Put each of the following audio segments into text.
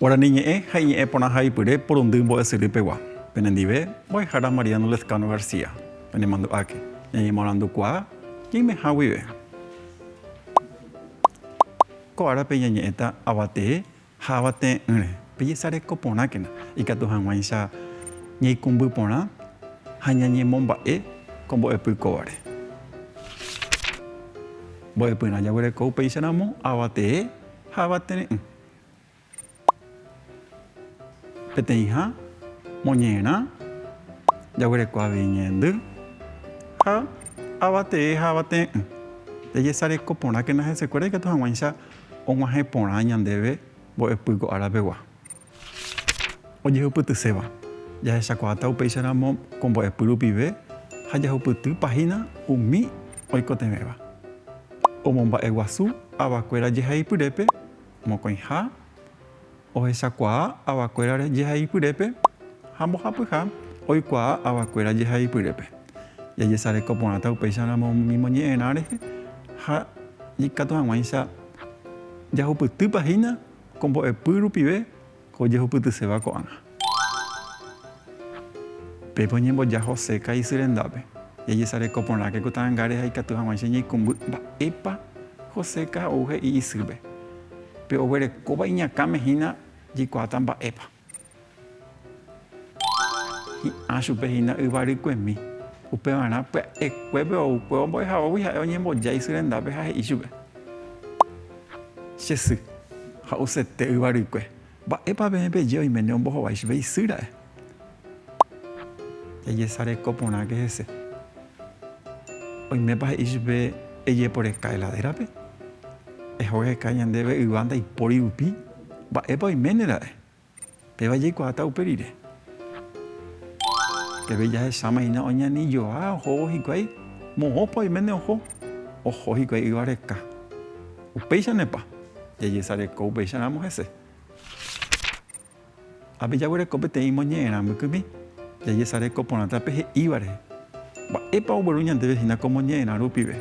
Guarani ñe'ẽ ha iñe'ẽ porãha ipyre porundy mbo'esyry pegua. Penendive, mbo'ehára Mariano Lezcano García, penemandu'áke, ñañemoarandukuaa ñaimeha guive. Ko árape ñañe'ẽta avatee ha avatee'ỹre, pejesareko porãkena ikatu hag̃uáicha ñaikumby porã ha ñañemomba'e ko mbo'epy kóvare. Mbo'epyrã jaguereko upéicharamo avatee ha avatere'ỹ. Peteĩha moñe'ẽrã jaguereko avei ñe'ẽndy ha avatee ha avate'ỹ. Jajesareko porãkena hesekuéra ikatu hag̃uáicha og̃uahẽ porã ñandéve mbo'epy ko árapegua. Ojehupytyséva, jahechakuaáta upéicharamo ko mbo'epy rupive ha jahupyty páhina umi oikotevẽva. Omomba'eguasu avakuéra jehaipyrépe Mokõiha ohechakuaa avakuéra jehaipyrépe ha mbohapyha oikuaa avakuéra jehaipyrépe. Jajesareko porãta upéicharamo umi ñimoñe'ẽrã rehe ha ikatu hag̃uáicha jahupytýpa hína ko mbo'epy rupive Ko jehupytyséva ko'ág̃a. Pépe oñemboja José ka'i isy rendápe. Jajesareko porãke ku ta'angáre ha ikatu hag̃uáicha ñaikumby mba'épa José ka ou he'i isýpe. Pe oguerekóva iñakãme hína jaikuaáta mba'épa. Hi'ã chupe hína yvarykuemi. Upevarã pya'ekuépe ou kuéva mbo'ehavógui ha'e oñembojái sy rendápe ha he'i chupe, Che sy, ha'usete yvarykue, mba'épa peẽ peje oiméne ombohovái chupe isy ra'e? Jajesareko porãke hese. Oimépa he'i chupe ejeporeka heladérape? Ehogeka ñandéve yva ndaipóri rupi? Mba'épa oiméne ra'e? Péva jaikuaáta upe rire. Peve jahecháma hína oñani joa ohóvo hikuái, moõpa oiméne oho, oho hikuái yva reka. Upéichanepa, jajesareko upéicharamo hese. Ápe jaguereko peteĩ moñe'ẽrã mbykymi, jajesareko porãta pe he'íva rehe. Mba'épa ogueru ñandéve hína ko moñe'ẽrã rupive?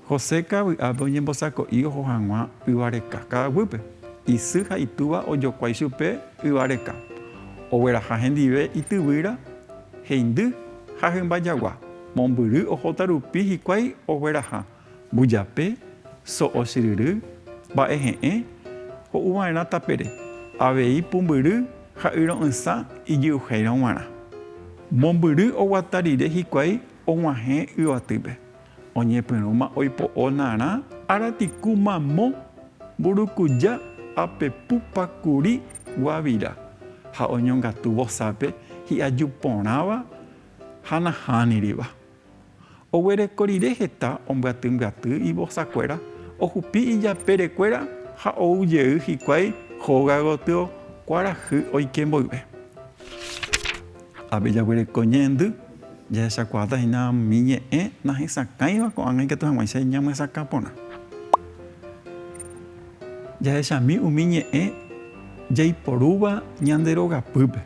José kavy'ápe oñembosako'i oho hag̃ua yva reka ka'aguýpe. Isy ha itúva ojokuái chupe yva reka. Ogueraha hendive ityvýra, heindy ha hymba jagua. Mombyry ohóta rupi hikuái ogueraha, mbujape, so'o chyryry, mba'e he'ẽ, ho'u va'erã tapére, avei pumbyry ha yro'ysã ijyuhéirõ g̃uarã. Mombyry oguata rire hikuái og̃uahẽ yvatýpe, Oñepyrũma oipo'o narã aratiku mamo, mburukuja, ápe pupa, kuri, guavira, ha oñongatu vosápe hi'aju porãva ha nahániriva. Oguereko rire heta ombyatymbyatý ivosakuéra, ohupi ijapérekuéra ha ou jey hikuái hóga gotyo kuarahy oike mboyve. Avei jaguereko ñe'ẽndy, jahechakuaáta hína umi ñe'ẽ nahesakãiva ko'ág̃a ikatu hag̃uáicha ñamyesakã porã. Jahechami umi ñe'ẽ jaiporúva ñande rogapýpe,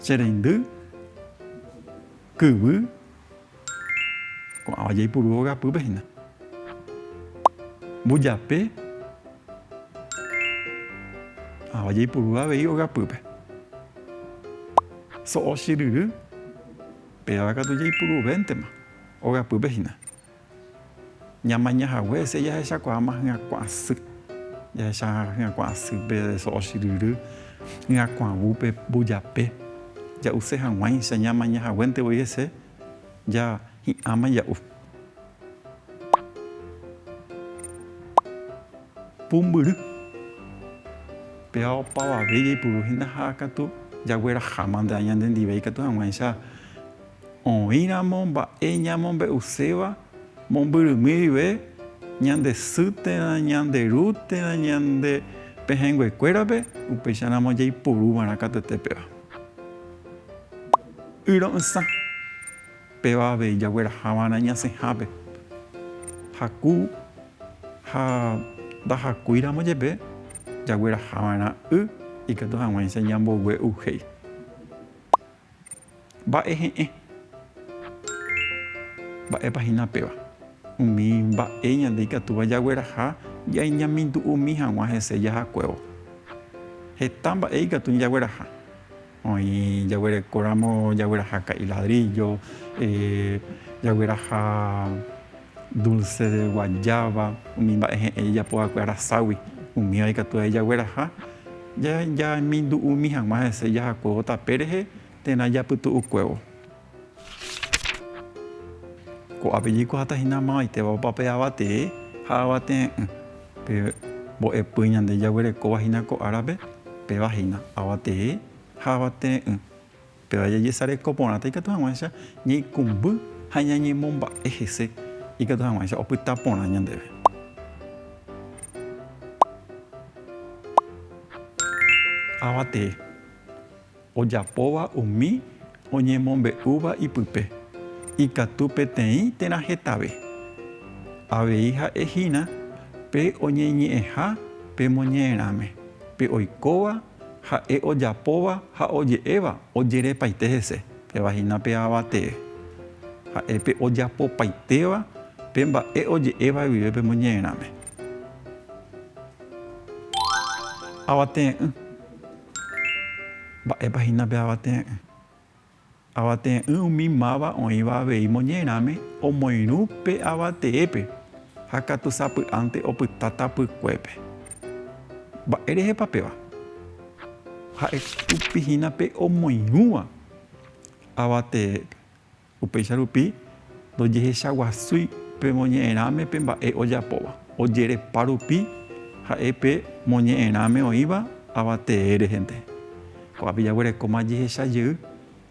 che reindy, kyvy, Ko'ãva jaipuru ogapýpe hína. Mbujape. Ko'ãva jaipuru avei ogapýpe. So'ochyryry. Péva katu jaipuruvéntema ogapýpe hína. Ñamaña hague hese jahechakuaáma hyakuã sy. Jahecha hyakuã sýpe de so'o chyryry, hyakuãvúpe, mbojape. Ja'use hag̃uáicha ñamaña haguénte voi hese ja hi'ãma ja'u. Pumbyry. Péva opavave jaipuru hína ha katu jagueraháma nde aña nde ndive ikatu hag̃uáicha. Oĩramo mba'e ñamombe'uséva mombyrymi rive, ñande sy térã, ñande ru térã, ñande pehẽngue kuérape, upéicha ramo jaipuru va'erã katete péva. Yro'ysã, péva avei jagueraha va'erã ñasẽhápe. Jaku ha ndajacúi ramo jepe, jagueraha va'erã y ikatu haguãicha ñambogue'uhéi. Mba'e he'ẽ. Mba'épa hína péva? Umi mba'e ñande ikatúva jagueraha ñañemindu'umi hag̃ua hese jahakuévo. Heta mba'e ikatu ñajagueraha. Oĩ jaguerekóramo jagueraha ka'i ladríllo, jagueraha. Dulce de guayaba, umi mba'e he'ẽ jejapo va'ekue araságui, umíva ikatu avei jagueraha, jamindu'umi hag̃ua hese jahakuévo tape rehe térã japytu'ukuévo. Ko'ápe jaikuaáta hína mavaiteva opa pe avatee ha avate'ỹ'ỹ. Pe mbo'epy ñande jaguerekóva hína ko árape, péva hína, avatee ha avate'ỹ'ỹ. Péva jajesareko porãta ikatu hag̃uáicha ñaikũmby ha ñañemomba'e hese ikatu hag̃uáicha opyta porã ñandéve. Ava tee ojapóva umi oñemombe'úva ipype ikatu peteĩ térã hetave. Avei ha'e hína pe oñeñe'ẽha pe moñe'ẽrãme, pe oikóva Ha'e ojapóva ha oje'éva ojerepaite hese. Péva hína pe Ava tee. Ha'e pe ojapopaitéva pe mba'e oje'éva guive pe moñe'ẽrãme. Avate'ỹ. Mba'épa hína pe avate'ỹ? Avate'ỹ umi máva oĩva avei moñe'ẽrãme omoirũ pe avateépe ha katu sapy'ánte opyta tapykuépe. Mba'e rehepa péva? Ha'e tupi hína pe omoirũva avateépe. Upéicha rupi, Ndojehechaguasúi pe moñe'ẽrãme pe mba'e ojapóva. Ojerepa rupi ha'e pe moñe'ẽrãme oĩva ava tee rehente. Ko'ápe jaguerekóma jehecha jey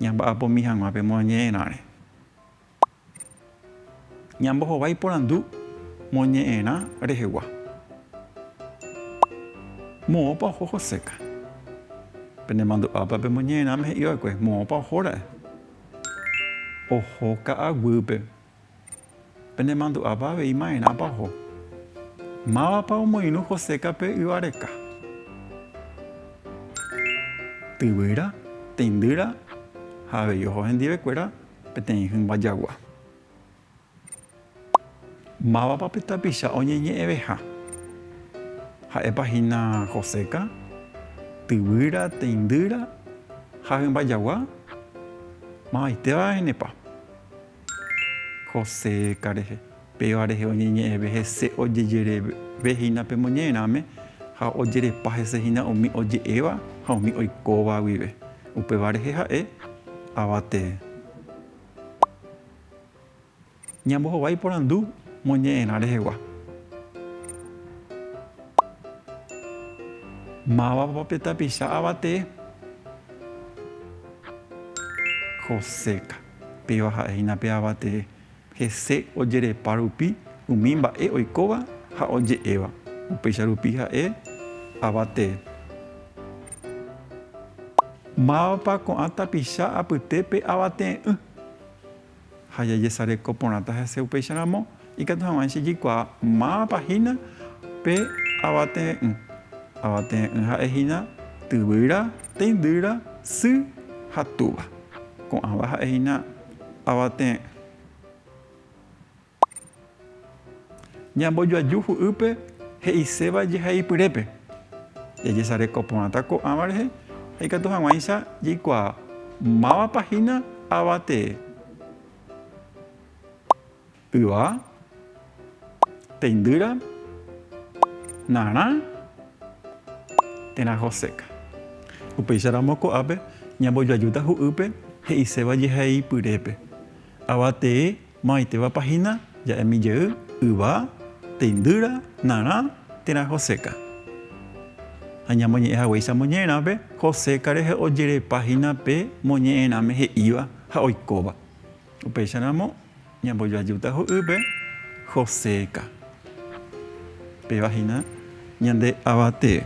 ñamba'apomi hag̃ua pe moñe'ẽrãre. Ñambohovái porandu moñe'ẽrã rehegua. Moõpa oho Joséka? Penemandu'ápa pe moñe'ẽrãme he'i va'ekue, moõpa ohóra'e? Oho ka'aguýpe. Penemandu'ápa avei maerãpa oho. Mávapa omoirũ Joséka pe yva reka. Tyvýra, teindýra ha avei oho hendivekuéra peteĩ hymba jagua. Mávapa pe tapicha oñeñe'ẽveha? Ha'épa hína Joséka, tyvýra, teindýra ha hymba jagua? Mavaitéva ehenepa Joséka rehe. Péva rehe oñeñe'ẽve hese ojejereve hína pe moñe'ẽrãme ha ojerepa hese hína umi oje'éva ha umi oikóva guive. Upéva rehe ha'e ava tee. Ñambohovái iporandu moñe'ẽrã rehegua. Mávapa pe tapicha avatee? Joséka. Péva ha'e hína pe avatee. Hese ojerepa rupi umi mba'e oikóva ha oje'éva. Upéicha rupi ha'e avatee. Mávapa ko'ã tapicha apytépe avatee'ỹ? ha jajesareko porãta hese upéicha ramo, ikatu hag̃uáicha jaikuaa mávapa hína pe avate'ỹ. Avate'ỹ ha'e hína tyvýra, teindýra, sy ha túva. Ko'ãva ha'e hína avate'ỹ. Ñambojoaju hu'ýpe he'iséva jehaipyrépe, jajesareko porãta ko'ãva rehe ha ikatu hag̃uáicha jaikuaa mávapa hína ava tee, yva, teindýra, narã térã hoséka. Upéicharamo ko'ápe ñambojoajúta hu'ýpe he'iséva jehaipyrépe, ava tee Mo'ãitevapa hína ja'emi jey, yva, teindýra, narã, térã Joséka. Ha ñamoñe'ẽ haguéicha moñe'ẽrãpe, Joséka rehe ojerepa hína pe moñe'ẽrãme he'íva ha oikóva. Upéicharamo ñambojoajúta ho'ýpe Joséka. Péva hína ñande Avatee.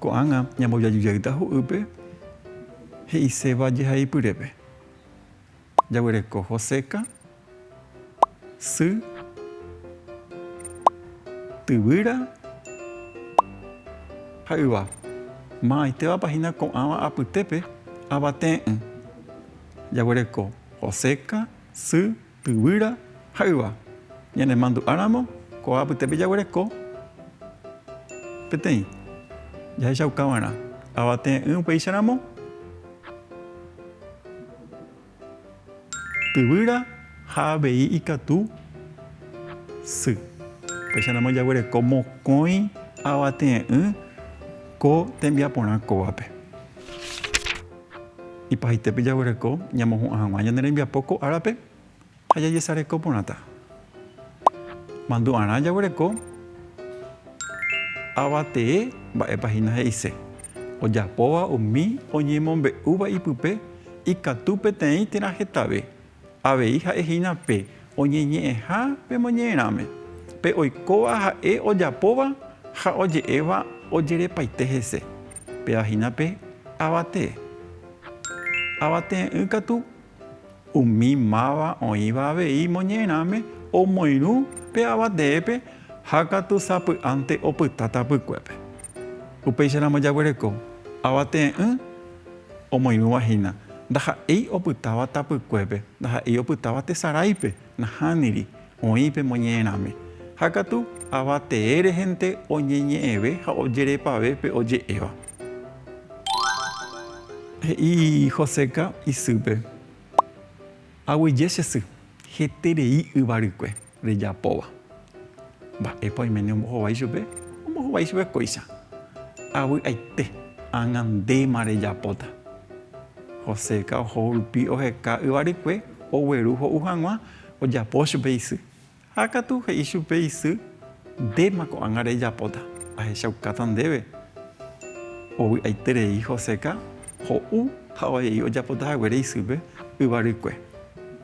Ko'ág̃a ñambojoaju jeýta ho'ýpe. He'iséva jehaipyrépe, jaguereko Joséka, sy, tyvýra ha yva. Ma'aitévapa hína ko'ãva apytépe avate'ỹ, jaguereko Joséka, sy, Yvyra ha yva. Ñanemandu'áramo ko apytépe jaguereko peteĩ jahechaukava'erã avate'ỹ upéicha ramo. Yvyra ha avei ikatu sy. Upéicha ramo jaguereko mokõi avate'ỹ ko tembiaporã kóvape. Ipahaite jaguereko ñamohu'ã hag̃ua ñane rembiapo ko árape ha jajesareko porãta. Mandu'arã jaguereko ava tee mba'épa hína he'ise ojapóva umi oñemombe'úva ipype ikatu peteĩ térã hetave. Avei ha'e hína pe oñeñe'ẽha pe moñe'ẽrãme, pe oikóva ha'e ojapóva ha oje'éva ojerepaite hese. Péva hína pe avatee. Avatee'ỹ katu umi máva oĩva avei moñe'ẽrãme omoirũ pe avateépe ha katu sapy'ánte opyta tapykuépe. Upéicharamo jaguereko avatee'ỹ Omoirũva hína, ndaha'éi opytáva tapykuépe, ndaha'éi opytáva tesaráipe, nahániri, oĩ pe moñe'ẽrãme. Ha katu, ava tee rehente oñeñe'ẽve ha ojerepave pe oje'éva. He'i Joséka isýpe, Aguyje che sy, heterei yva rykue. rejapóva. Mba'épa oiméne ombohovái chupe? Ombohovái chupe kóicha. Avy'aite, ág̃a ndéma rejapóta. Joséka oho rupi oheka yvarykue, ogueru ho'u hag̃ua, ojapo chupe isy. Ha katu he'i chupe isy, Ndéma ko'ág̃a rejapóta, ahechaukáta ndéve. Ovy'aiterei Joséka ho'u ha oje'i ojapota haguére isýpe yvarykue.